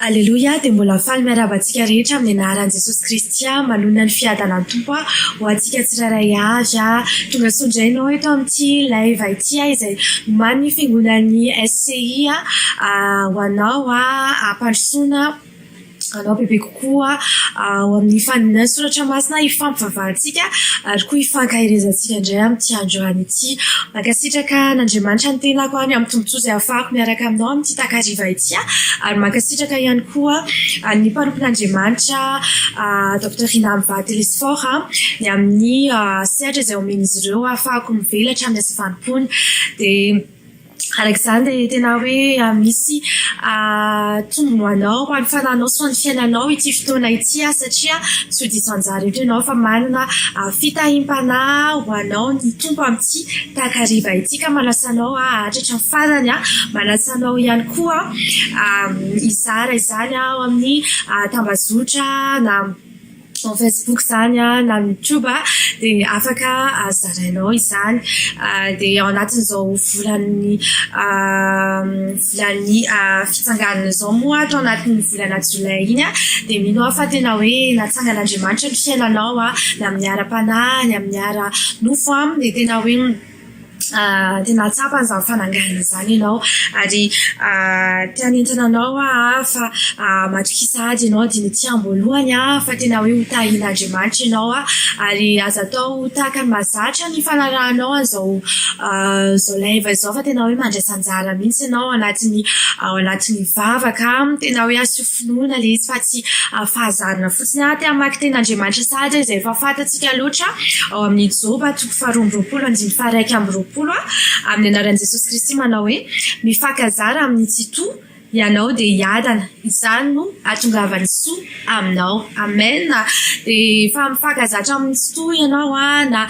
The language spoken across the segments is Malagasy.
Aleloia dia mbola faly miarahaba antsika rehetra amin'ny anaran'i Jesosy Kristy aho manonona ny fiadanan'ny Tompo aho ho antsika tsirairay avy aho tonga soa indray ianao eto amin'ity live ity aho izay omaly ny fiangonan'ny SCI aho ho anao aho hampandrosoana anao bebe kokoa koa ao amin'ny faninan'ny soratra masina hifampivavahantsika ary koa hifankaherezantsika indray amin'ity andro any ity. Mankasitraka an'Andriamanitra ny tenako any amin'ny tombontsoa izay hafahako miaraka aminao amin'ity takariva ity ary mankasitraka ihany koa an'ny mpanompon'Andriamanitra Docteur Rinamva Telesphore ny amin'ny sehatra izay omen'izy ireo hafahako mivelatra amin'ny asa fanompoana dia Araka izany dia tena hoe misy tombony ho anao, ho an'ny fanahinao sy ho an'ny fiainanao ity fotoana ity satria tsy ho diso anjara eto ianao fa manana fitahiam-panahy ho anao ny Tompo amin'ity takariva ity ka manasa anao hahatratra ny farany. Manasa anao ihany koa hizara izany ao amin'ny tambazotra na Ao Facebook izany a, na YouTube a, dia afaka zarainao izany. Dia ao anatin'izao volan'ny volan'ny fitsanganana izao moa ato anatin'ny volana jolay iny a, dia mino aho fa tena hoe natsangan'Andriamanitra ny fiainanao a, na amin'ny ara-panahy, na amin'ny ara-nofo a, dia tena hoe. dia nahatsapa an'izany fananganana izany ianao ary te hanentana anao aho fa matokisa ady ianao dia ny aty am-boalohany fa tena hoe ho tahin'Andriamanitra ianao ary aza atao ho tahaka ny mahazatra ny fanarahanao an'izao izao live izao fa tena hoe mandraisa anjara mihitsy ianao ao anatin'ny ao anatin'ny vavaka tena hoe asio fehy. finoana ilay izy fa tsy fahazarana fotsiny. Ary te hamaky teny Andriamanitra sahady izay efa fantatsika loatra ao amin'ny Joba toko faharoa amby roapolo andininy faharaika amby roapolo aho amin'ny anaran'i Jesosy Kristy manao hoe mifankazara amin'ny tsitoha ianao dia hiadana. Izany no hahatongavan'ny soa aminao. Amen. Dia efa mifankazatra amin'ny. Soa ianao na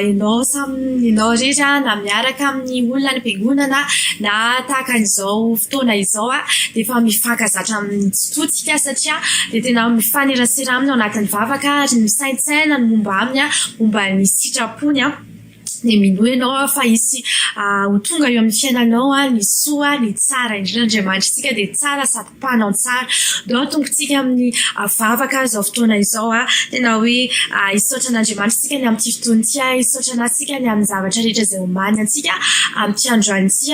ianao samy ianao irery na miaraka amin'ny olona any am-piangonana na tahaka an'izao fotoana izao dia efa mifankazatra amin'ny tsy toa tsika satria dia tena mifanerasera aminy ao anatin'ny vavaka ary misaintsaina ny momba aminy momba ny sitrapony. Tsy dia minoa ianao aho fa hisy ho tonga eo amin'ny fiainanao ny soa, ny tsara indrindra. Andriamanitritsika dia tsara sady mpanao ny tsara. Ndao atombotsika amin'ny vavaka izao fotoana izao. Tena hoe hisaotra an'Andriamanitra isika ny amin'ity fotoana ity. Hisaotra Anazy isika ny amin'ny zavatra rehetra izay omaniny antsika amin'ity androany ity.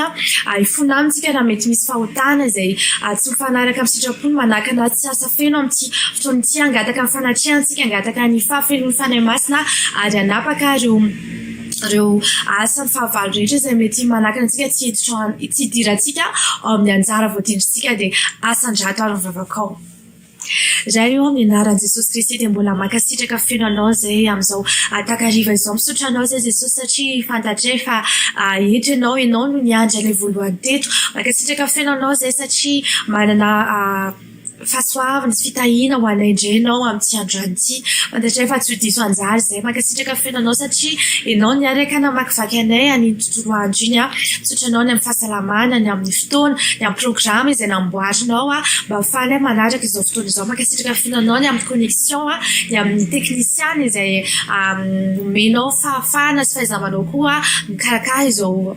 Hifona aminy isika raha mety misy fahotana izay tsy mifanaraka amin'ny sitrapony manakana tsy asa. Feno amin'ity fotoana ity hangataka ny fanatrehantsika, hangataka ny fahafenoan'ny Fanahy Masina ary hanapaka ireo ireo asa ny fahavalo rehetra izay mety manakana antsika tsy hiditra tsy hidirantsika ao amin'ny anjara voadindrintsika dia asan-drato ary ny vavakao. Ray ô, amin'ny anaran'i Jesosy Kristy dia mbola mankasitraka feno anao izay amin'izao takariva izao misaotra anao izay Jesosy satria fantatray fa eto ianao, ianao no niandry anay voalohany teto. Mankasitraka feno anao izay satria manana Fahasoavana sy fitahiana ho anay indray ianao amin'ity androany ity. Fantatray fa tsy ho diso anjara izay. Mankasitraka fenoanao satria ianao niaraka namakivaky anay an'iny tontolo andro iny aho. Misaotra anao ny amin'ny fahasalamana, ny amin'ny fotoana, ny amin'ny programa izay namboarinao mba ho faly manaraka izao fotoana izao. Mankasitraka fenoanao ny amin'ny connexion, ny amin'ny teknisiana izay nomenao fahafahana sy fahaiza-manao koa mikarakara izao.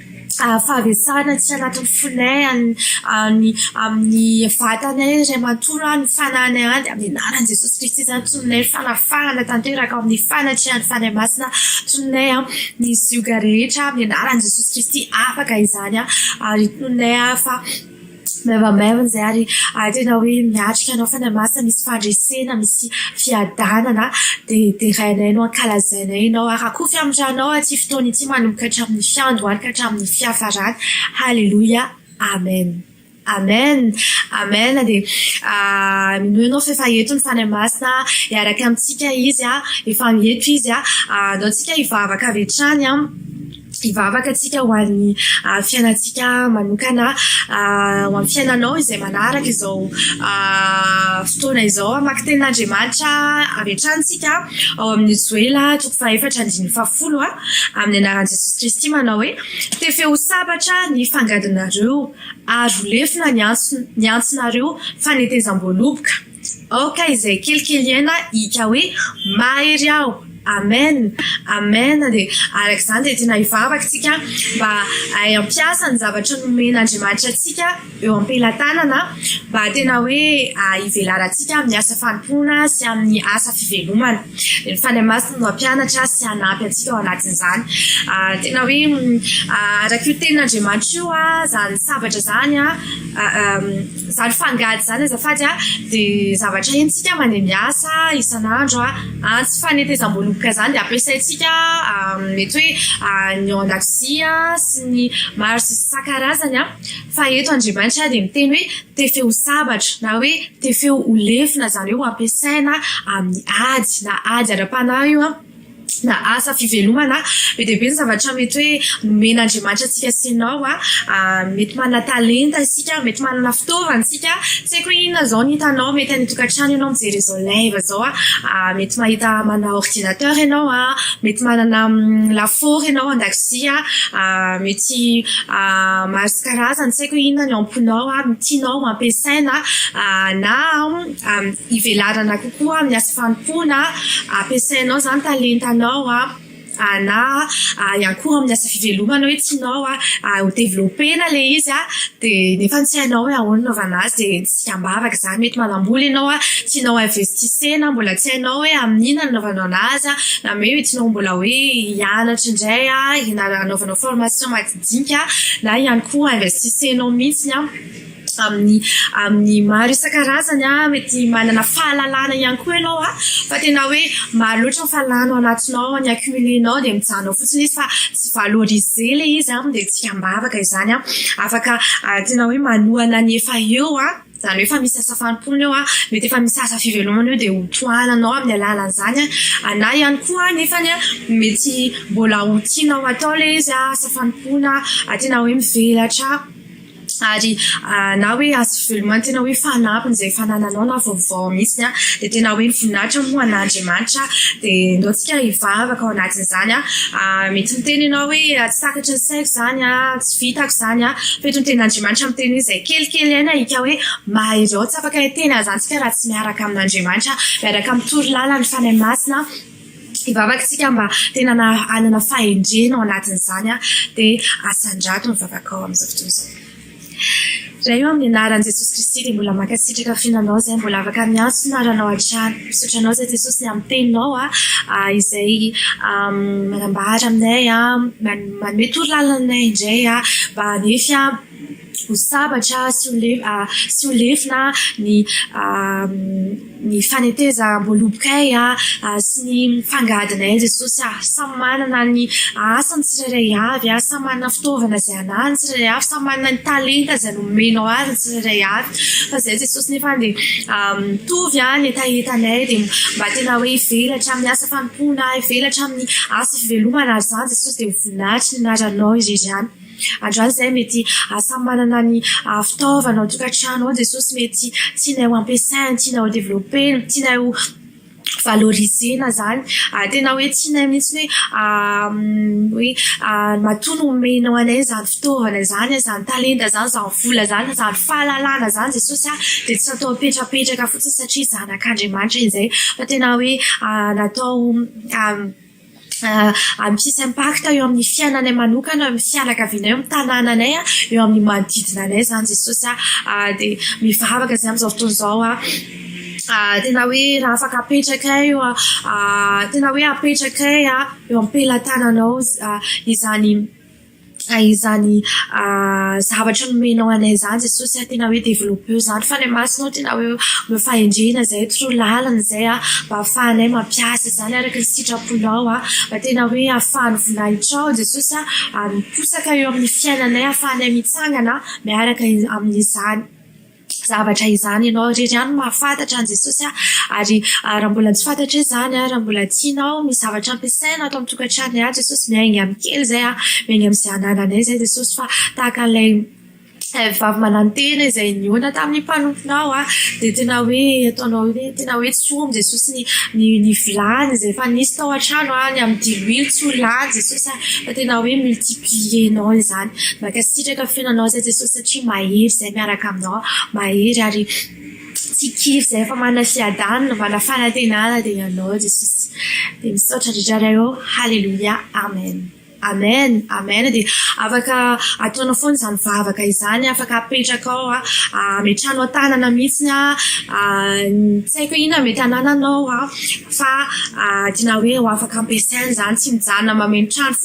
faharesahana tsy anatin'ny fonay any any amin'ny vatanay ry matoa any fananay any dia amin'ny anaran'i Jesosy Kristy izany tononay fanafahana tanteraka ao amin'ny fanatrehan'ny Fanahy Masina tononay ny zioga rehetra amin'ny anaran'i Jesosy Kristy afaka izany ary tononay fa Maivamaivana izay ary tena hoe miatrika anao Fanahy Masina, misy fandresena, misy fiadanana dia derainay no ankalazainay ianao. Arakofy amin'ny ranao ity fotoana ity manomboka hatramin'ny fiandohany ka hatramin'ny fiafarany. Haleloia, Amen, Amen, Amen. Dia minoa ianao fa efa eto ny Fanahy Masina hiaraka amintsika Izy, efa eto Izy. Anao antsika hivavaka avy hatrany. Hivavaka antsika ho an'ny fiainantsika manokana, ho an'ny fiainanao izay manaraka izao fotoana izao. Hamaky tenin'Andriamanitra avy hatrany isika ao amin'ny Joela toko fahefatra andininy fahafolo, amin'ny anaran'i Jesosy Kristy manao hoe, Tefeo ho sabatra ny fangadinareo ary ho lefona ny antsonareo fanetezam-boaloboka. Aoka izay kelikely aina hika hoe mahery aho Amen Amen dia araka izany dia tena hivavaka isika mba hahay hampiasa ny zavatra nomen Andriamanitra antsika eo ampelatanana mba tena hoe hivelarantsika amin'ny asa fanompoana sy amin'ny asa fivelomana dia ny Fanahy Masina no hampianatra sy hanampy antsika ao anatin'izany tena hoe araka io tenin Andriamanitra io izany sabatra izany Zany fangady zany azafady a de zavatra hentsika mandeha miasa isan'andro a, antsy fanetezam-boaloboka zany de ampiasaintsika mety hoe ny ao an-dakozia sy ny maro sy isan-karazany a, fa eto andriamanitra dia miteny hoe tefe ho sabatra na hoe tefe ho lefona zany hoe ho ampiasaina amin'ny ady na ady ara-panahy io a. na asa fivelomana, be dia be ny zavatra mety hoe nomen'Andriamanitra antsika sy ianao. Mety manana talenta isika, mety manana fitaovana isika. Tsy haiko hoe inona izao no hitanao, mety any an-tokantrano ianao mijery izao live izao, mety mahita manana ordinateur ianao, mety manana lafaoro ianao an-dakozia, mety maro isan-karazany, tsy haiko hoe inona ny amponao ary ny tianao ampiasaina na ivelarana kokoa amin'ny asa. Fanompoana, ampiasainao izany talentanao na hiankohoka amin'ny asa fivelomanao hoe tsy nao ary ho developpena ilay izy dia nefa tsy hainao hoe ahoana hanaovana azy dia tsy ambavaka izany. Mety manam-bola ianao an, tianao ho investissena, mbola tsy hainao hoe amin'inona no hanaovanao anazy na hoe tianao mbola hoe hianatra indray hanaovanao formation madinika na ihany koa investisenao mihitsy. amin'ny amin'ny maro isan-karazany a mety manana fahalalana ihany koa ianao a fa tena hoe maro loatra ny fahalalana ao anatinao ny accumulenao dia mijanona fotsiny izy fa tsy valoriser ilay izy a dia tsy am-bavaka izany a afaka tena hoe manohana ny efa eo a izany hoe efa misy asa fanompoana eo a mety efa misy asa fivelomana eo dia ho tohananao amin'ny alalan'izany a na ihany koa nefa ny a mety mbola ho tianao atao ilay izy a asa fanompoana tena hoe mivelatra ary na hoe azo veloma ny tena hoe fanapin' izay fanananao na vaovao mihitsy an dia tena hoe voninahitra moa an'Andriamanitra dia ndaontsika hivavaka ao anatin'izany an mety miteny ianao hoe tsy takatry ny saiko izany an tsy vitako izany an feto ny tenin'Andriamanitra miteny hoe izay kelikely aina hika hoe mahereo tsy afaka hiteny an'izany isika raha tsy miaraka amin'Andriamanitra miaraka amin'ny toro lalany fanahy masina Hivavaka isika mba tena hanana fahendrena ao anatin'izany dia asandrato ny vavaka ao amin'izao fotoana izao. Raha eo amin'ny anaran'i Jesosy Kristy dia mbola mankasitraka fihinanao izay mbola afaka miantso ny anaranao hatrany. Misaotra anao izay Jesosy ny amin'ny teninao izay manambara aminay, manome toro lalana anay indray mba hanefy ho sabatra sy ho lefona sy ho lefona ny ny fanetezam-boalobokay sy ny fangadinay Jesosy ah samy manana ny asany tsirairay avy ah samy manana fitaovana izay anany ny tsirairay avy samy manana ny talenta izay nomenao azy ny tsirairay avy fa izay Jesosy nefa dia mitovy ah ny hetahetanay dia mba tena hoe hivelatra amin'ny asa fanompoana hivelatra amin'ny asa fivelomana ary izany Jesosy dia ho voninahitry ny anaranao irery ihany Andraso izay mety samy manana ny fitaovana ao an-tokantrano ao Jesosy mety tianay ho ampiasainy, tianay ho developpena, tianay ho valorisena izany. Tena hoe tianay mihitsy hoe matoa nomenao anay izany fitaovana izany, izany talenta izany, izany vola izany, izany fahalalana izany Jesosy a, dia tsy natao hapetrapetraka fotsiny satria zanak'Andriamanitra izay fa tena hoe natao misy impact eo amin'ny fiainanay manokana, amin'ny fianakavianay, amin'ny tanànanay, eo amin'ny manodidina anay izany Jesosy ah. Dia mivavaka izay amin'izao fotoana izao aho ah, tena hoe raha afaka apetrakay eo, tena hoe apetrakay eo am-pelatananao izany. Izany izany zavatra nomenao anay izany Jesosy a, tena hoe développeo izany fa ny masonao tena hoe omeo fahendrena izay toroy lalana izay a, mba afahanay mampiasa izany araka ny sitraponao a, mba tena hoe afahan'ny voninahitranao Jesosy a miposaka eo amin'ny fiainanay afahanay mitsangana miaraka amin'izany. zavatra izany ianao irery ihany mahafantatra an'i Jesosy ary raha mbola tsy fantatra izany raha mbola tianao ny zavatra ampiasaina ato amin'ny tokantrano ihany Jesosy miainga amin'ny kely izay miainga amin'izay anananay izay Jesosy fa tahaka an'ilay vavy manantena izay nihaona tamin'ny mpanomponao dia tena hoe ataonao hoe tena hoe tsy omby Jesosy ny ny vilany izay efa nisy tao an-trano ny amin'ny diloilo tsy ho lany Jesosy fa tena hoe multiplier-nao izany mankasitraka fihainanao izay Jesosy satria mahery izay miaraka aminao, mahery ary tsy kivy izay efa manana fiadanana, manana fanantenana dia ianao Jesosy. Dia misaotra indrindra ary aho, haleloia, amen, amen, amen, dia afaka ataonao foana izany vavaka izany, afaka apetrakao, ametrahanao an-tanana mihitsy ny tsy haiko hoe inona mety hanananao fa adinao hoe ho afaka ampiasaina izany, tsy mijanona mameno trano fotsiny.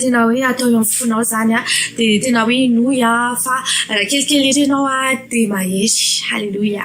tena hoe atao eo amin'ny fonao izany an, dia tena hoe henoy aho fa raha kelikely ery ianao dia mahery. Haleloia.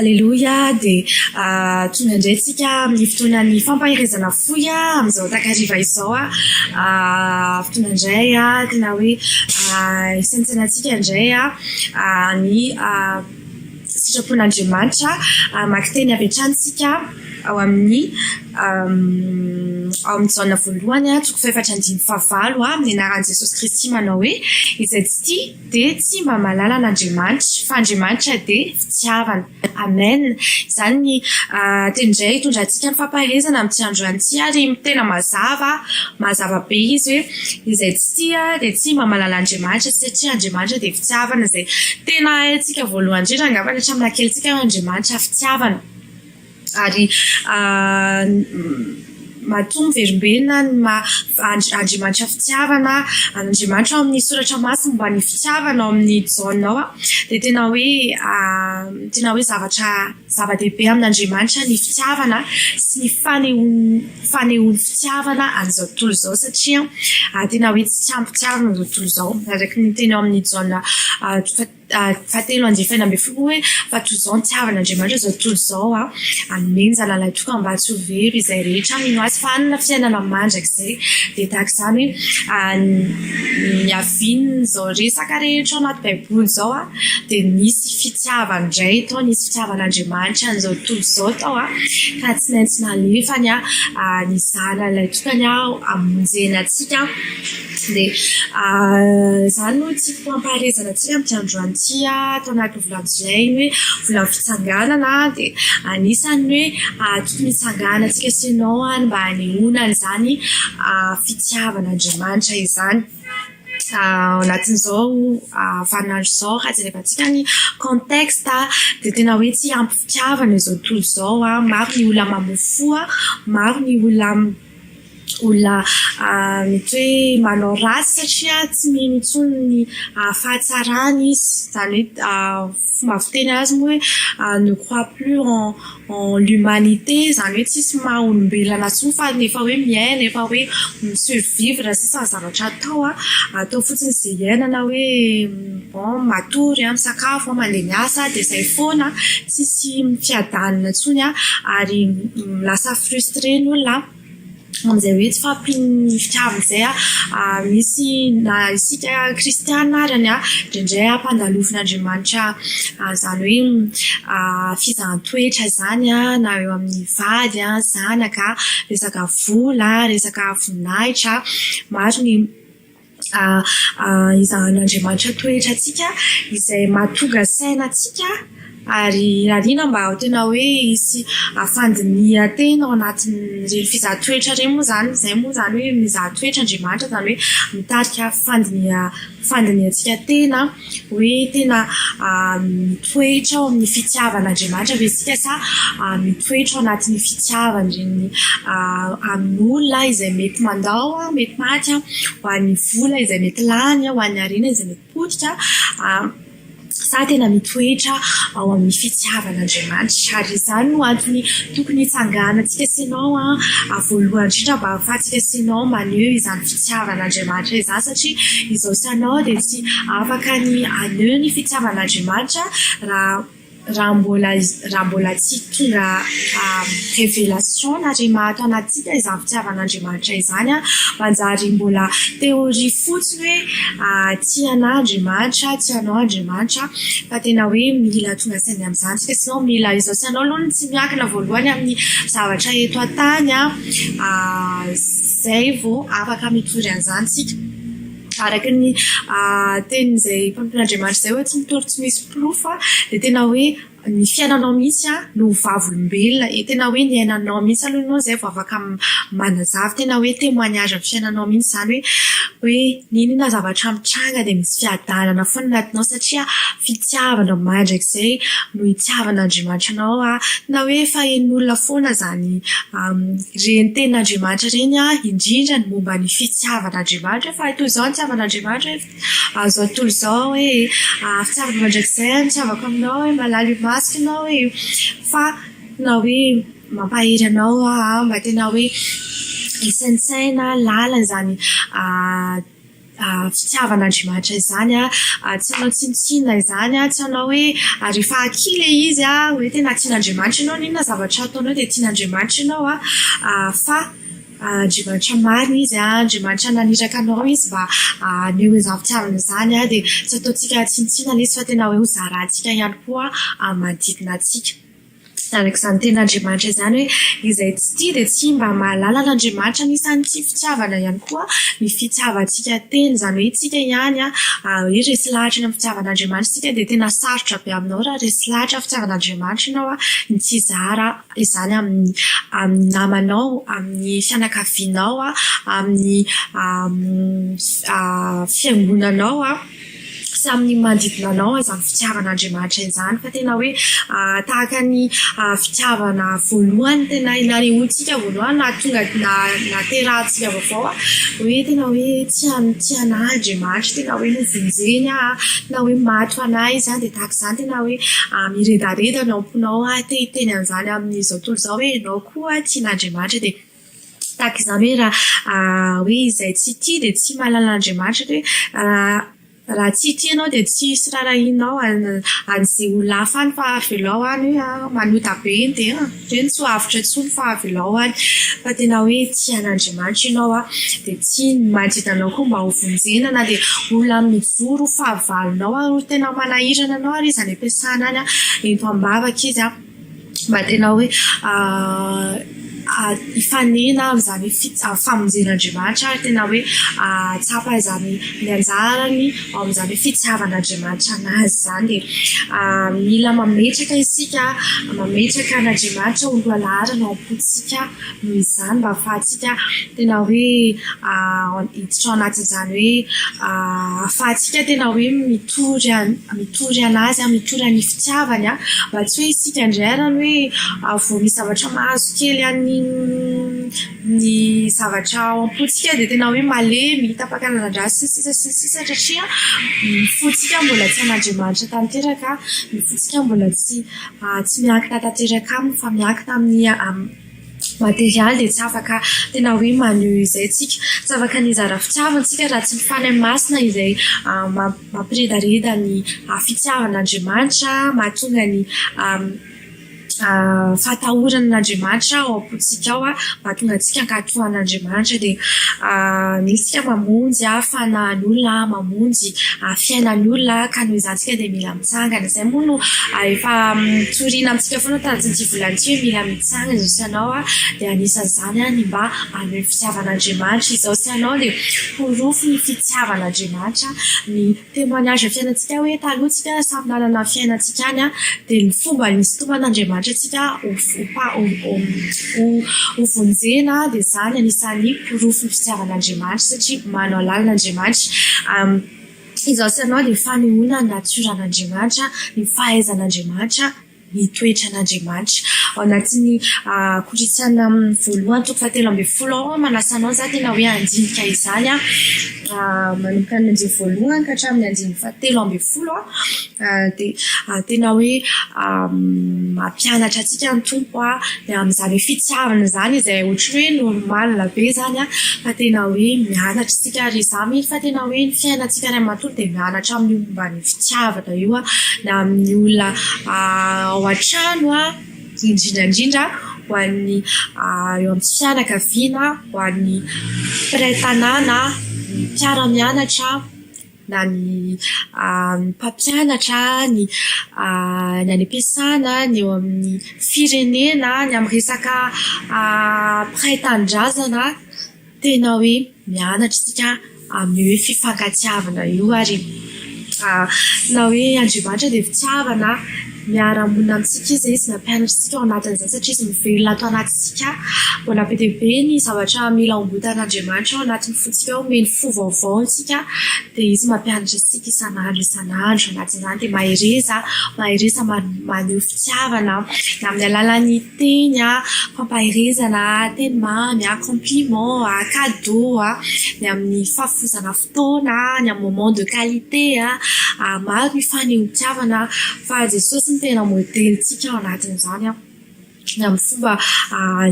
Aleloia, dia tonga indray isika amin'ny fotoanan'ny fampaherezana fohy amin'izao takariva izao. Tonga indray na hoe isaintsaina antsika indray. ny sitrapon'Andriamanitra. Mamaky teny avy hatrany isika ao amin'ny ao amin'ny Jaona voalohany toko fahefatra andininy fahavalo amin'ny anaran'i Jesosy Kristy manao hoe izay tsy tia dia tsy mba mahalala an'Andriamanitra fa Andriamanitra dia fitiavana. Amen! Izany ny Teny indray hitondra antsika ny fampaherezana amin'ity andro ihany ity ary tena mazava, mazava be izy hoe izay tsy tia dia tsy mba mahalala Andriamanitra satria Andriamanitra dia fitiavana izay tena haintsika voalohany indrindra angambany hatramin'ny naha kelintsika hoe Andriamanitra fitiavana ary Matoa miverimberina ny maha Andriamanitra fitiavana Andriamanitra ao amin'ny soratra masina momba ny fitiavana ao amin'ny Jaona ao dia tena hoe tena hoe zavatra zava-dehibe amin'Andriamanitra ny fitiavana sy ny fanehoana fanehoana fitiavana an'izao tontolo izao satria tena hoe tsy ampy tsiarona izao tontolo izao araka ny teny ao amin'ny Jaona fahatelo andininy fahefany ambin'ny folo hoe fa toy izao ny tiavan' Andriamanitra izao tontolo izao a hanome ny zanalahy tokana mba tsy ho very izay rehetra mino azy fa hanana fiainana mandrakizay dia tahaka izany hoe ny niavian' izao resaka rehetra ao anaty baiboly izao a dia nisy fitiavana indray tao nisy fitiavan' Andriamanitra an'izao tontolo izao tao a ka tsy maintsy nalefany a ny zanany ilay tokana a hamonjena antsika Dia izany no tiako hampaherezana antsika amin'ity androany ity aho tao anatin'ny volabolay iny hoe vola fitsanganana dia anisan'ny hoe tokony hitsangana antsika sy ianao ary mba hanehoana an'izany fitiavan'Andriamanitra izany. Ao anatin'izao vaninandro izao raha jerevantsika ny contexte dia tena hoe tsy ampy fitiavana izao tontolo izao, maro ny olona mamofoha, maro ny olona olona mety hoe manao ratsy satria tsy mino intsony ny fahatsarany izy, izany hoe fomba fiteny azy moa hoe ne crois plus en en l'humanité izany hoe tsisy maha olombelona intsony fa efa hoe miaina efa hoe mi survivre sisa ny zavatra atao an, atao fotsiny izay iainana hoe bon matory an, misakafo an, mandeha miasa an dia izay foana an, tsisy fiadanana intsony an ary lasa frustre ny olona an. amin'izay hoe tsy fahampian'ny fitiavana izay ary misy na isika kristiana ary ny indraindray ampandalovinaNdriamanitra izany hoe fizahan-toetra izany na eo amin'ny vady, zanaka, resaka vola, resaka voninahitra, maro ny Mba hizahan'Andriamanitra toetra antsika izay mahatonga saina antsika ary irariana mba ho tena hoe hisy fandinihan-tena ao anatin'ireny fizaha toetra ireny moa izany. Izay moa izany hoe mizaha toetra Andriamanitra izany hoe mitarika fandinihan-tena. Hoe tena mitoetra ao amin'ny fitiavan'Andriamanitra ve isika sa mitoetra ao anatin'ny fitiavan'ireny amin'olona izay mety mandao, mety maty, ho an'ny vola izay mety lany, ho an'ny harena izay mety potika sa tena mitoetra ao amin'ny fitiavan'Andriamanitra? Ary izany no antony tokony hitsanganantsika sy ianao voalohany indrindra mba ahafahantsika sy ianao maneho izany fitiavan'Andriamanitra izany satria izao sy anao dia tsy Afaka ny haneho ny fitiavan'Andriamanitra raha raha mbola tsy tonga révélation na rhema ato anatintsika izany fitiavan'Andriamanitra izany an. Manjary mbola théorie fotsiny hoe tia anah Andriamanitra, tia anao Andriamanitra fa tena hoe mila tonga saina amin'izany isika sinon mila izao sy anao aloha no tsy miankina voalohany amin'ny zavatra eto an-tany an, izay vao afaka mitory an'izany isika. araka ny tenin'izay mpanompon'Andriamanitra izay hoe tsy mitory tsy misy porofo dia tena hoe ny fiainanao mihitsy no vavolombelona e tena hoe ny ainanao mihitsy aloha ianao izay vao afaka manazava tena hoe témoignage amin'ny fiainanao mihitsy izany hoe n'inona zavatra mitranga dia misy fiadanana foana ny atinao satria fitiavana mandrakizay no hitiavan'Andriamanitra anao na hoe fahen'olona foana izany Ireny tenin'Andriamanitra ireny indrindra ny momba ny fitiavan'Andriamanitra fa toy izao ny fitiavan'Andriamanitra hoe azo atolo izao hoe afitsarako mandrakizay ny fitiavako aminao hoe mahalala imasoko ianao e fa na hoe mampahery anao aho mba tena hoe isaintsaina lalina izany fitiavana Andriamanitra izany a, tsy hanao tsinontsinona izany a, tsy hanao hoe ary efa akia ilay izy a, hoe tena tian'Andriamanitra ianao, n'inona zavatra ataonao dia tian'Andriamanitra ianao a, fa Andriamanitra marina izy a, Andriamanitra naniraka anao izy mba haneho izany fitiavana izany a, dia tsy ataontsika tsinontsinona ilay izy fa tena hoe ho zarantsika ihany koa amin'ny manodidina antsika. Araka izany tenin'Andriamanitra izany hoe, izay tsy tia dia tsy mba mahalala an'Andriamanitra. Anisan'ity fitiavana ihany koa ny fitiavantsika tena, izany hoe isika ihany hoe resy lahatra eny amin'ny fitiavan'Andriamanitra isika dia tena sarotra be aminao raha resy lahatra fitiavan'Andriamanitra ianao ny tsy hizara izany amin'ny amin'ny namanao, amin'ny fianakavianao, amin'ny fiangonanao. sy amin'ny manodidina anao izany fitiavan'Andriamanitra izany fa tena hoe tahaka ny fitiavana voalohany tena nanehoantsika voalohany na tonga na naterahantsika vaovao hoe tena hoe tsy tsy anahy Andriamanitra tena hoe novonjeny aho tena hoe maty ho anahy izany dia tahaka izany tena hoe miredareda ny am-ponao aho te hiteny an'izany amin'izao tontolo izao hoe ianao koa tian'Andriamanitra dia Tsy tahaka izany hoe raha hoe izay tsy tia dia tsy mahalala an'Andriamanitra dia hoe raha tsy tia ianao dia tsy hisy raharahianao an'izay olona hafa any fa avelao any hoe manota be iny dia hoe tsy ho avotra intsony fa avelao any. Fa tena hoe tia an'Andriamanitra ianao dia tia ny manodidina anao koa mba hovonjena na dia olona mijoro ho fahavalonao ary ho tena manahirana anao ary izy any am-piasana any, ento am-bavaka izy. Mba tena hoe hifanena amin'izany famonjen'Andriamanitra ary tena hoe hahatsapa izany ny anjarany ao amin'izany hoe fitiavan'Andriamanitra an'azy izany e. Mila mametraka isika, mametraka an'Andriamanitra ho lohalaharana ao am-pontsika noho izany mba hahafahantsika tena hoe hiditra ao anatin'izany hoe ahafahantsika tena hoe mitory an mitory an'azy an mitory an'ny fitiavany an mba tsy hoe isika indray arany hoe vao misy zavatra mahazo kely an'ny ny zavatra ao am-pontsika dia tena hoe malemy tapakanan-dra sy ny sisa sy ny sisa satria ny fontsika mbola tsy an'Andriamanitra tanteraka ny fontsika mbola tsy tsy miankina tanteraka aminy fa miankina amin'ny materialy dia tsy afaka tena hoe maneho izay tsika, tsy afaka ny hizara fitiavana tsika raha tsy mifaly amin'ny masina izay mampiredareda ny fitiavana Andriamanitra mahatonga ny fahatahorana an'Andriamanitra ao am-pontsika ao mahatonga antsika ankatoan' Andriamanitra dia misy isika mamonjy fanahin'olona mamonjy fiainan'olona ka noho izany isika dia mila Mitsangana izay moa no efa tsorina amintsika foana tahatin'ity volana ity hoe mila mitsangana izao sy ianao a, dia anisan'izany a ny mba haneho ny fitiavan'Andriamanitra izao sy ianao dia porofo ny fitiavan'Andriamanitra ny témoignage fiainantsika hoe taloha tsika samy nanana ny fiainantsika any a dia ny fomba nisintoman'Andriamanitra antsika ho ho vonjena dia izany anisan'ny porofo ny fitiavan'Andriamanitra satria manao lalina Andriamanitra Izaho sy ianao dia fanehoana ny natioran'Andriamanitra, ny fahaizan'Andriamanitra, ny toetran'Andriamanitra. Ao anatin'ny Korintiana voalohany toko fahatelo ambin'ny folo ao aho manasa anao izaho tena hoe handinika izany an, manomboka ny andininy voalohany ka hatramin'ny andininy fahatelo ambin'ny folo dia tena hoe mampianatra antsika ny Tompo ny amin'izany hoe fitiavana izany izay ohatry ny hoe normal be izany an fa tena hoe mianatra isika. antsika ary izaho mino fa tena hoe ny fiainantsika iray matoa dia mianatra amin'io momba ny fitiavana io a na amin'ny olona ao an-trano a indrindra indrindra ho an'ny eo amin'ny fianakaviana ho an'ny mpiray tanàna ny mpiara-mianatra na ny mpampianatra ny ny any am-piasana ny eo amin'ny firenena ny amin'ny resaka mpiray tanindrazana Tena hoe mianatra isika amin'ny hoe fifankatiavana io ary na hoe Andriamanitra dia fitiavana, miara-monina amintsika Izy, Izy nampianatra antsika ao anatin'izany satria Izy mivelona ato anatintsika. Mbola be dia be ny zavatra mila hombotan'Andriamanitra ao anatin'ny fontsika ao, omeny fo vaovao antsika dia Izy mampianatra antsika isan'andro isan'andro anatin'izany dia mahereza, mahereza maneho fitiavana na amin'ny alalan'ny. Teny a, fampaherezana a, teny mamy a, compliment a, cadeau a, ny amin'ny fahafoizana fotoana a, ny amin'ny moment de qualité a, maro ny fanehoan-kavana fa Jesosy no tena modelintsika ao anatin'izany a, ny amin'ny fomba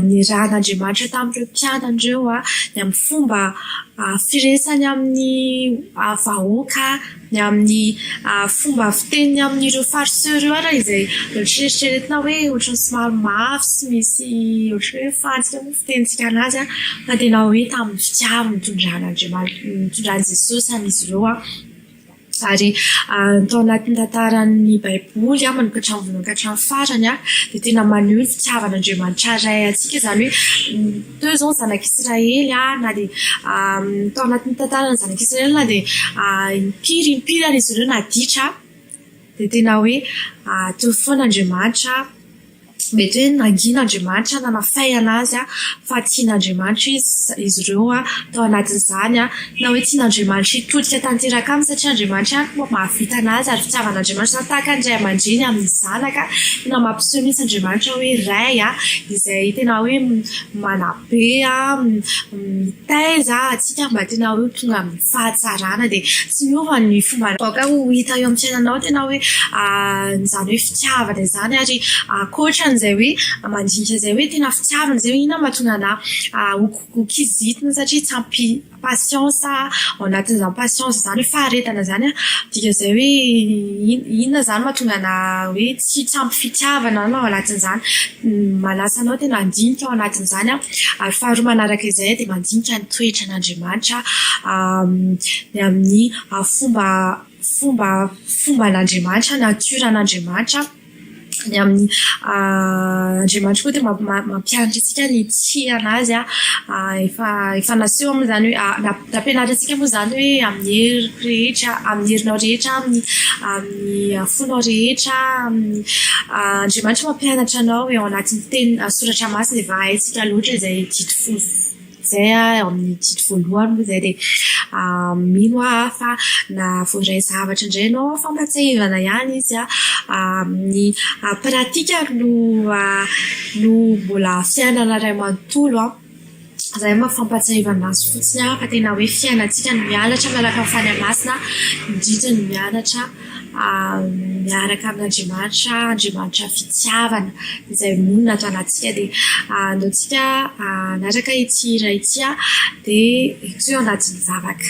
niarahan'Andriamanitra tamin'ireo mpianany ireo a, ny amin'ny fomba firesany amin'ny vahoaka. ny amin'ny fomba fiteniny amin'ireo farceur ireo ary izay eritreretina hoe ohatran'ny somary mafy sy misy ohatran'ny hoe fadika moa ny fitenintsika an'azy an, fa tena hoe tamin'ny fitiavana nitondran'Andriamanitra nitondran'i Jesosy an'izy ireo an, ary tao anatin'ny tantaran'ny baiboly manomboka hatramin'ny voalohany ka hatramin'ny farany dia tena maneho ny fitiavan'Andriamanitra Ray antsika izany hoe Teo izao ny Zanak'i Israely, na dia tao anatin'ny tantaran'ny Zanak'i Israely, na dia impiry impiry ary izy ireo naditra, dia tena hoe tony foana Andriamanitra, mety hoe nangina Andriamanitra, nanafay an'azy fa tian'Andriamanitra izy ireo tao anatin'izany. Na hoe tsy n'Andriamanitra hitodika tanteraka aminy satria Andriamanitra ihany no mahavita anazy ary fitiavan'Andriamanitra nahataka ny ray aman-dreny amin'ny zanaka tena mampiseho mihitsy Andriamanitra hoe Ray izay tena hoe manabe mitaiza antsika mba tena hoe tonga amin'ny fahatsarana dia tsy miova ny fomba aoka ho hita eo amin'ny fiainanao tena hoe izany hoe fitiavana izany ary ankoatra an'izay hoe mandinika izay hoe tena fitiavana izay hoe inona no mahatonga anah Kizitina satria tsy ampy patience a, ao anatin'izany patience izany hoe faharetana izany an, dikan'izay hoe inona izany mahatonga anà hoe tsy tsy ampy fitiavana na ao anatin'izany. Manasa anao tena handinika ao anatin'izany an, ary faharoa manaraka izay an dia mandinika ny toetran'Andriamanitra ny amin'ny fomba fomba fomban'Andriamanitra, natiora an'Andriamanitra. Ny amin'ny Andriamanitra koa dia mampianatra antsika ny hitia anazy a, efa efa naseho moa izany hoe nampianatra antsika moa izany hoe amin'ny heriko rehetra, amin'ny herinao rehetra, amin'ny amin'ny fonao rehetra, amin'ny Andriamanitra mampianatra anao eo anatin'ny teniny soratra masina dia efa haintsika loatra izay didy fohy. Izay aho amin'ny didy voalohany moa izay dia mino aho fa na voaray zavatra indray ianao an, fampahatsiahivana ihany izy an, ny pratika no no mbola fiainana iray manontolo an, izay no maha fampahatsiahivana azy fotsiny an, fa tena hoe fiainantsika no mianatra miaraka amin'ny Fanahy Masina, ny didy no mianatra. miaraka amin' Andriamanitra, Andriamanitra fitiavana izay monina ato anatintsika dia aleo tsika hanaraka ity hira ity an dia eto eo anatin'ny vavaka.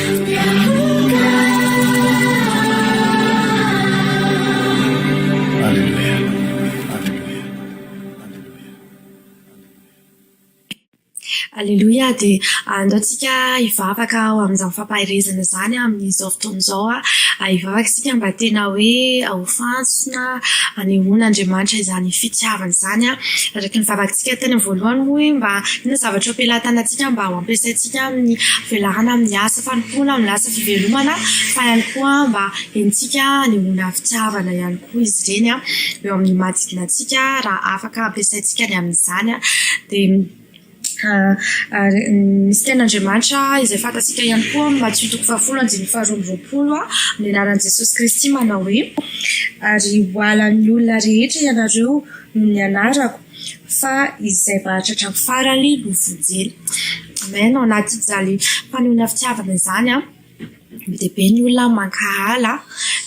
Aleloia, dia andao tsika hivavaka ho amin'izany fampaherezana izany amin'izao fotoana izao aho, hivavaka isika mba tena hoe ho fantsona hanehoan'Andriamanitra izany fitiavany izany aho, araka ny vavaka ntsika tany am-voalohany hoe mba inona zavatra ampilatana antsika mba ho ampiasaintsika. Tsy amin'ny fivelahana amin'ny asa fanompoana amin'ny lasa fivelomana fa ihany koa mba henontsika hanehoana fitiavana ihany koa izy ireny eo amin'ny manodidina antsika raha afaka ampiasaintsika ny amin'izany dia misy tenin'Andriamanitra izay fantatsika ihany koa amin'ny Matio toko fahafolo andininy faharoa amby roapolo amin'ny anaran'i Jesosy Kristy manao hoe ary ho halan'ny olona rehetra ianareo noho ny anarako. Fa izay mahatratra ny farany no vonjena. Amen ao anatin'izany fanohana fitiavana izany an, be dia be ny olona mankahala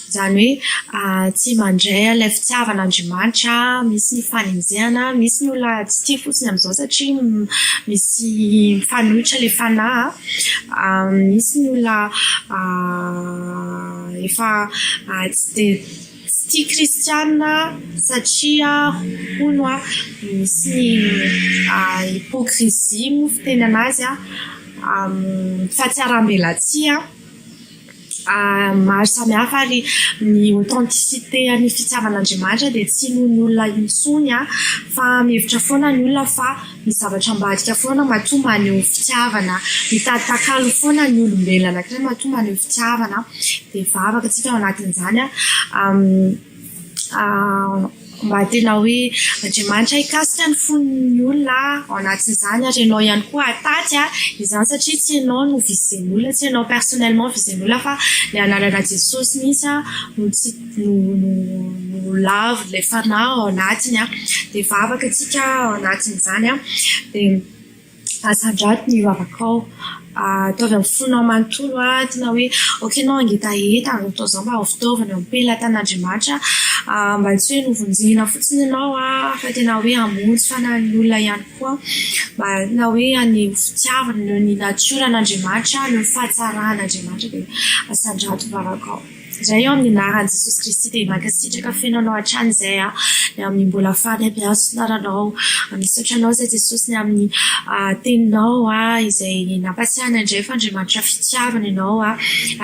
izany hoe tsy mandray an'ilay fitiavan'Andriamanitra, misy ny fanenjehana, misy ny olona tsy tia fotsiny amin'izao satria misy mifanohitra ilay fanahy an, misy ny olona efa tsy dia Tsy tia kristiana satria hono an, misy ny hypocrisie moa fitenana azy an, amin'ny fahatsiaram-belatsihy an, maro samihafa ary ny authenticité an'ny fitiavan'Andriamanitra dia tsy noho ny olona intsony an fa mihevitra foana ny olona fa Ny zavatra ambadika foana matoa maneho fitiavana, mitady takalo foana ny olombelona anankiray matoa maneho fitiavana dia vavaka isika ao anatin'izany mba tena hoe Andriamanitra hikasika ny fon'ny olona ao anatin'izany ary ianao ihany koa hataty izany satria tsy ianao no vizin'olona, tsy ianao personnellement vizin'olona fa ny anarana Jesosy mihintsy no tsy no lavo ilay fanahy ao anatiny an, dia vavaka isika ao anatin'izany an, dia asandrato ny vavakao, ataovy amin'ny fonao manontolo an, tena hoe ok enao hangetaheta atao izao mba ho fitaovana ampelan'i Tanin'Andriamanitra an, mba tsy hoe novonjena fotsiny enao an, fa tena hoe hamonjy fanahin'ny olona ihany koa mba tena hoe haneho fitiavana noho ny natiora an'Andriamanitra noho ny fahatsaran'Andriamanitra dia asandrato ny vavakao. Ray ô amin'ny anaran'i Jesosy Kristy dia mankasitraka feno anao hatrany izay aho ny amin'ny mbola fady hampihazo ny lalanao misaotra anao izay Jesosy ny amin'ny teninao izay nampatsiahina indray fa Andriamanitra fitiavana ianao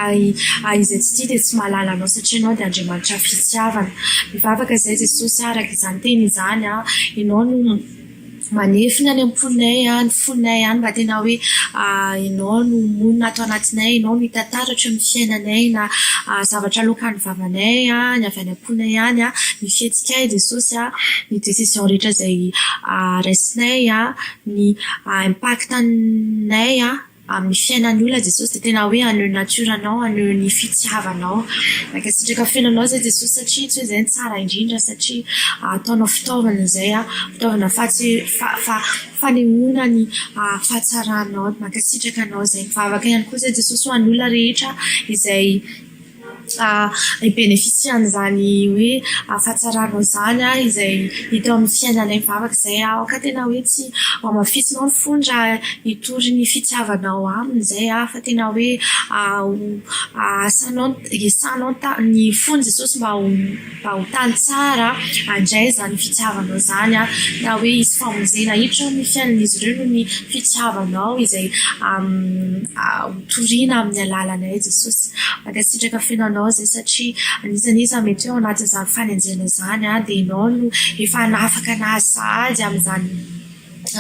ary izay tsy tia dia tsy mahalala anao satria ianao dia Andriamanitra fitiavana mivavaka izay Jesosy araka izany teny izany ianao no Manefy ny any am-ponay ny fonay any raha tena hoe ianao no monina ato anatinay, ianao no hita taratry ny fiainanay na zavatra aloakan'ny vavanay ny avy any am-ponay any, ny fihetsikay Jesosy a, ny décision rehetra izay raisinay, ny impact-nay. amin'ny fiainan'ny olona Jesosy dia tena hoe haneho ny natiora-nao, haneho ny fitiavanao. Mankasitraka feno anao izay Jesosy satria tsy hoe izay no tsara indrindra satria ataonao fitaovana izay, fitaovana fahatse, fa, fa, fanehoana ny fahatsaranao. Mankasitraka anao izay. Mivavaka ihany koa izay Jesosy ho an'ny olona rehetra izay. Fa hi-beneficia-n'izany hoe fahatsarana izany aho izay hita eo amin'ny fiainanay mivavaka izay aho ka tena hoe tsy hamafisinao ny fony raha hitory ny fitiavanao aminy izay aho fa tena hoe ho asanao, hiasanao ny fon'i Jesosy mba ho. Fahotany tsara handray izany fitiavanao izany raha hoe hisy famonjena hiditra ao amin'ny fiainan'izy ireo noho ny fitiavanao izay hotorina amin'ny alalanay Jesosy. Mankasitraka feno anao izay satria anisan'ny iza mety hoe ao anatin'izany fanenjehana izany dia ianao no efa hanafaka anazy sahady amin'izany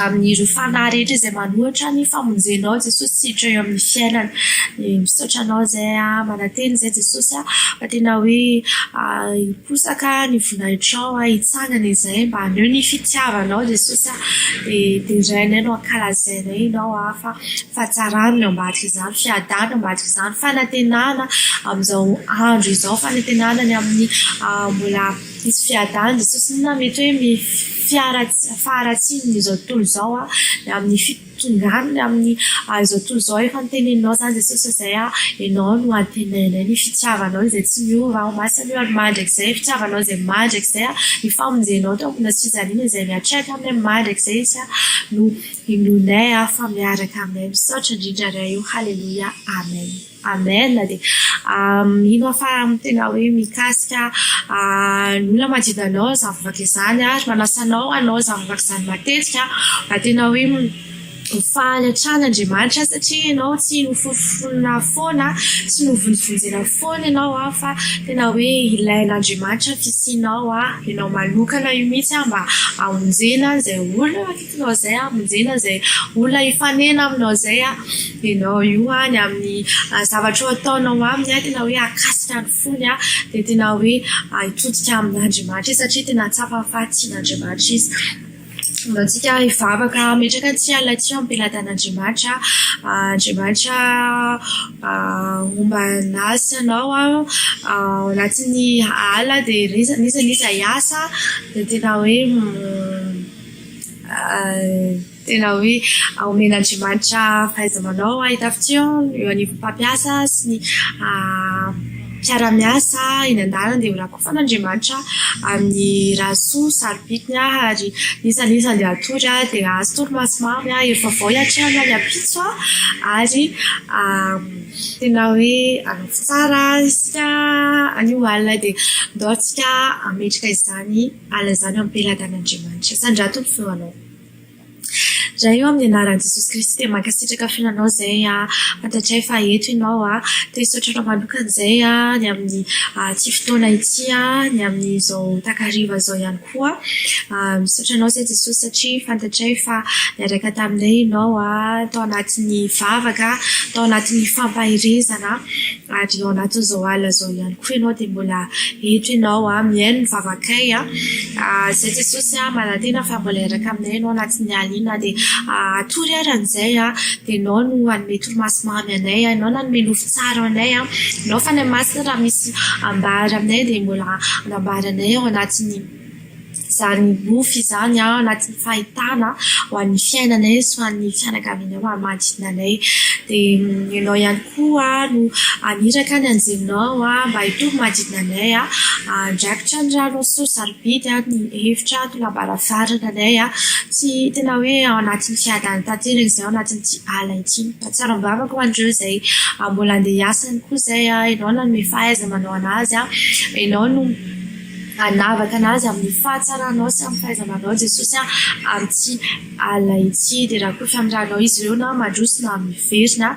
amin'ireo fanahy rehetra izay manohitra ny famonjenao aho Jesosy sy hiditra eo amin'ny fiainany dia misaotra anao izay aho manantena izay Jesosy aho fa tena hoe hiposaka ny voninahitranao aho hitsangana izay mba haneho ny fitiavanao Jesosy aho dia derainay no ankalazainay ianao aho fa fahatsarana no ambadika izany fiadana no ambadika izany fanantenana amin'izao andro izao fanantenana ny amin'ny mbola Hisy fiadan'ny sosona mety hoe mety faharatsian'izao tontolo izao an, amin'ny fitondran'ny ny amin'ny izao tontolo izao efa noteneninao izany Jesosy fa izay an, ianao no antenainay ny fitiavanao izay tsy miova, ho masina io ary mandrakizay, fitiavanao izay mandrakizay an, ny famonjenao teo ambony hazo fijaliana izay miatrehatra aminay mandrakizay izy an, no inoanay fa miaraka aminay, misaotra indrindra Ray o, haleloia, amen. Amen de mino fa tena hoe mikasika ny olona manodidina anao izany vavaka izany ary manasa anao hanao izany vavaka izany matetika mba tena hoe ho faly hatrany Andriamanitra satria ianao tsy noforoforona foana, tsy novonjovonjena foana ianao fa tena hoe ilain'Andriamanitra ny fisianao ianao manokana io mihitsy mba hamonjena izay olona. Ianao izay hamonjena izay olona hifanena aminao izay ianao io ny amin'ny zavatra ataonao aminy tena hoe akasika ny fony dia tena hoe hitodika amin'Andriamanitra izy satria tena tsapa fa tian'Andriamanitra izy. Mba antsika hivavaka hametraka antsika ilay tsy am-pelatan'Andriamanitra. Andriamanitra homba anahy sy anao ao anatin'ny ala dia izy anisan'izay hiasa dia tena hoe tena hoe aomen'Andriamanitra fahaiza-manao ahitafitsy eo eo anivon'ny mpampiasa sy ny mpiara-miasa eny an-dalana dia ho rakofan'Andriamanitra amin'ny raha soa saro-pitiny aho ary iza na iza andeha hatory aho dia ahazo torimaso maro ny ahy hery vaovao hiatrehana ny ampitso ary tena hoe hanaovy tsara isika anio alina dia andao isika hametraka izany Alazano ampelagan'Andriamanitra. Zany ra tompo feo anao. Ra eo amin'ny anaran'i Jesosy Kristy dia mankasitraka fihinanao izay a, fantatray fa eto ianao a, te hisaotra anao manokana izay a, ny amin'ny ity fotoana ity a, ny amin'izao takariva izao ihany koa. Misaotra anao izay Jesosy satria fantatray fa niaraka taminay ianao a, tao anatin'ny vavaka, tao anatin'ny fampaherezana. Ary ao anatin'izao alina izao ihany koa ianao dia mbola eto ianao an, mihaino ny vavakay an, izay Jesosy an, manantena fa mbola hiaraka aminay ianao anatin'ny alina iny na dia hatory ary an'izay an, dia ianao no hanome torimaso mamy anay an, ianao no hanome nofo tsara anay an, ianao Fanahy Masina raha misy ambara aminay dia mbola anambara anay ao anatin'ny Zary nofy izany ao anatin'ny fahitana ho an'ny fiainanay sy ho an'ny fianakavianay manodidina anay. Dia ianao ihany koa no haniraka ny anjelinao mba hitovy manodidina anay, handrakotra ny rano sy ny sarobidy ny efitra sy ny lavarangana anay. Tsy tena hoe ao anatin'ny fiadanana tanteraka izay ao anatin'ity ala ity. Mahatsiaro am-bavaka ho an'ireo izay mbola handeha hiasa ihany koa izay, ianao nanome fahaiza-manao an'azy, ianao no Hanavaka an'azy amin'ny fahatsaranao sy amin'ny fahaiza-manao Jesosy amin'ity alina ity. Dia rakoto amin'ny ranao izy ireo na mandroso na miverina.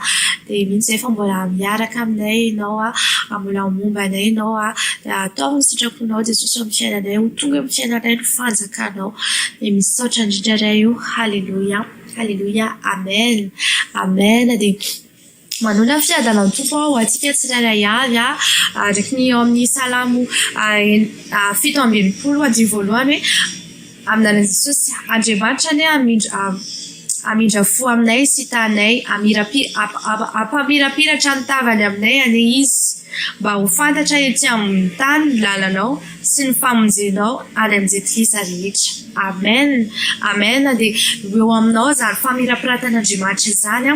Dia mino izay fa mbola miaraka aminay Ianao, mbola momba anay Ianao. Dia ataovy ny sitraponao Jesosy amin'ny fiainanay. Ho tonga amin'ny fiainanay ny fanjakanao. Dia misaotra indrindra Ray o. Haleloia, Haleloia, Amen, Amen. Manonona ny fiadanao ny Tompo ho antsika tsirairay avy araka ny ao amin'ny Salamo fito amby enimpolo andininy voalohany hoe, amin'ny anaran'i Jesosy Andriamanitra anie hamindra hamindra fo aminay sy hitanay, hampamirapiratra ny tavany aminay anie Izy, mba ho fantatra etsy amin'ny tany ny lalanao. sy ny famonjenao any amin'ny Jentilisa rehetra. Amen! Amen! Dia ho eo aminao izany famirapiratan'Andriamanitra izany,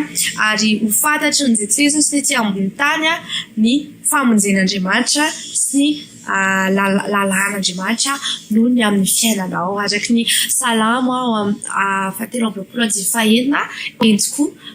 ary ho fantatry ny Jentilisa sy ny ety ambony tany ny famonjen'Andriamanitra sy ny lalàn'Andriamanitra noho ny amin'ny fiainanao, araka ny Salamo fahatelo amby roapolo andinin'ny fahenina, Entiko.